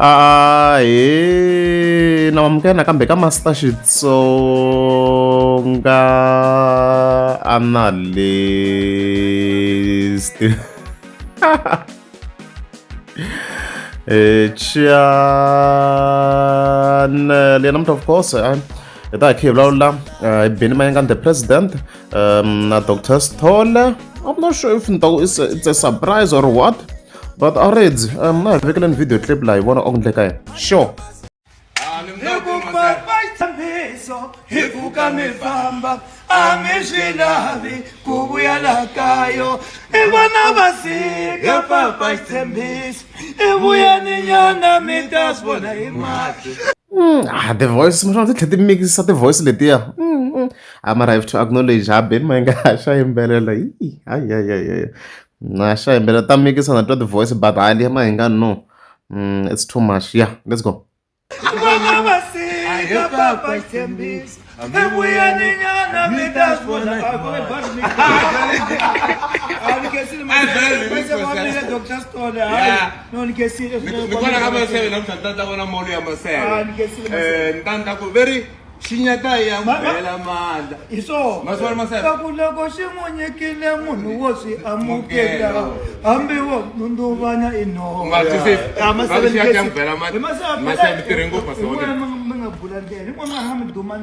Ah, eh, na mamukena kambe ka Master Xitsonga analyst. Eh, Chian, Leonard, of course, eh, that he, Lola, uh, been my the president. um, na dr stoller i'm not sure if it's a, it's a surprise or what but already um, na hi vekela ni video clip laha hi vona oku ndleka yena sure hi ku ka mi famba a mi swi lavi ku vuya la kayo i vona va sika papa xitshembiso i vuyeni nyana mi ta swi vona hi mahlo hmm, ah, the voice mi swa ndzi tlhe ti mikisa ti voice letiya hmm, hmm. I'm arrived to acknowledge haben ma nga ha xa yimbelela yi hayi hayi hayi na xa yimbelela ta mikisa na twa the voice but hayi liya ma hi nga no mm, it's too much yeah let's go very xinyata ya n'wi bela mandla hi swonaku loko xi n'wi nyikile munhu wo swi amukela hambi wo nundzuvana i nomasevenminga bula ndlela hi n'wana ha mi duma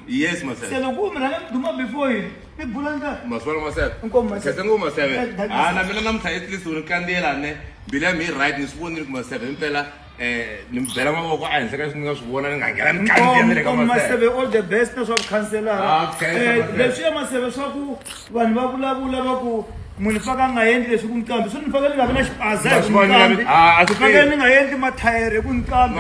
yes masele se loko u mi rhanga mi duma before yini mi bula ndlela maswala masele inkomu masele khetsa ngo masele ha na mina namuntlha etlisiwini kandziyela ne mbilu ya mi yi right ni swi vonile ku masele himpela eh ni mi bela mavoko a henhla ka leswi ni nga swi vona ni nga nghena ni kandziya ni le ka maseve all the best na swa vukhanselara ah, eh, leswi ya maseve swa ku vanhu va vulavula va ku munhu faka a nga endli leswi ku ni kambi swi ni faka ni nga vi na xipaza hi ku ni kambi ah, ku faka ni nga endli mathayere hi ku ni kambi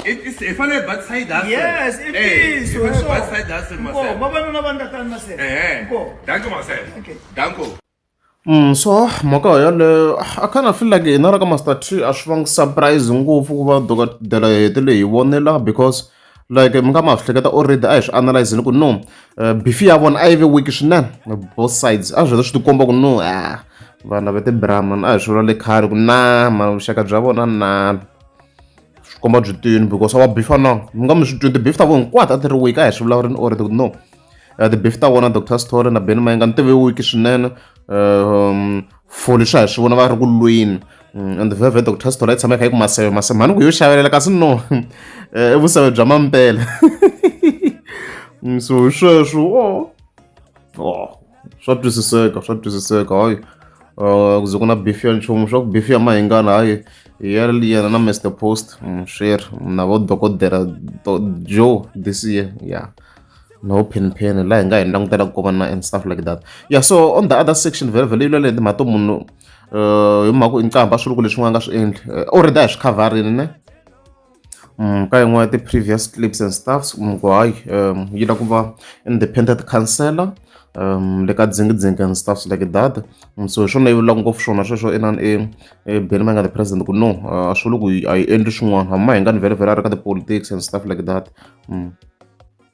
hi fanele hi batisa yi dasi yes i ntiyiso hi fanele hi batisa yi dasi maseve vavanuna va ni tatani maseve danko maseve danko Mm, so mhaka yoleyo I kind of feel like hina ra ka Master Tree a swi vangi surprise ngopfu ku va dokodela hetele hi vonela because like mi nga ma swi hleketa already a hi swi analyzini ku no eh, beef ya vona a yi ve weak swinene both sides a swi heta swi tikomba ku no ah vana va ti-brahman a hi swi vula le khale ku na ma vuxaka bya vona na swi komba byi tini because a va beef na mi nga mi swi twi ti-beef ta vona hinkwato a ti ri weak a hi swi vulavurini already ku no uh, the beef ta vona dr story na ben mayenga ni tive wiki swinene um, for leswi a hi swi vona va ri ku lweni mm, and veve dr story yi tshama yi kha yi ku maseve maseve mhani ku yo xavelela kasi no eh, i vuseve bya mampela mm, so hi sweswo o oh. oh. swa twisiseka swa twisiseka hayi uh, ku ze ku na beef ya nchumu swa ku beef ya mahingana hayi ya yena na mr post mm, swi ri na vo dokodela joe this year ya yeah. no pen pen laha hi nga hi langutela ku koma na and stuff like that yeah so on the other section vhele vhele yilo leyi timhaka to munhu uh, hi mhaka i nqambha swiluku leswi n'wana nga swi endli uh, already a hi swi khavharini ne Mm, ka yin'wana ya ti-previous clips and stuffs mm, ku hayi um, yi la ku va independent councellor um, le ka dzingidzingi and stuffs like that um, so hi swona yi vulaka ngopfu swona sweswo inani e, e beni ma nga the president ku no a swi vuli ku a yi endli swin'wana hama hi nga ni vhele vhele a ri ka ti-politics and stuff like that um.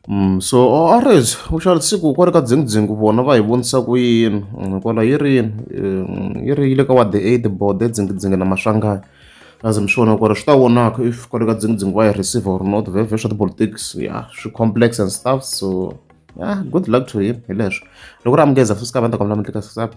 Mm, so orange u xava siku kwale ka dzingudzingu vona va hi vonisa ku yini mm, kwala yi ri yini mm, yi ri yi le ka wa the aid board edzingudzingu na maswangayo as mi swi vona kwale swi ta vonaka if kwale ka dzingudzingu va yi receive or not vhevhe swa tipolitics ya swi complex and stuff so ya good luck to him hi leswo loko ri amukeza futhi sikavanda kamla mutli ka sisapa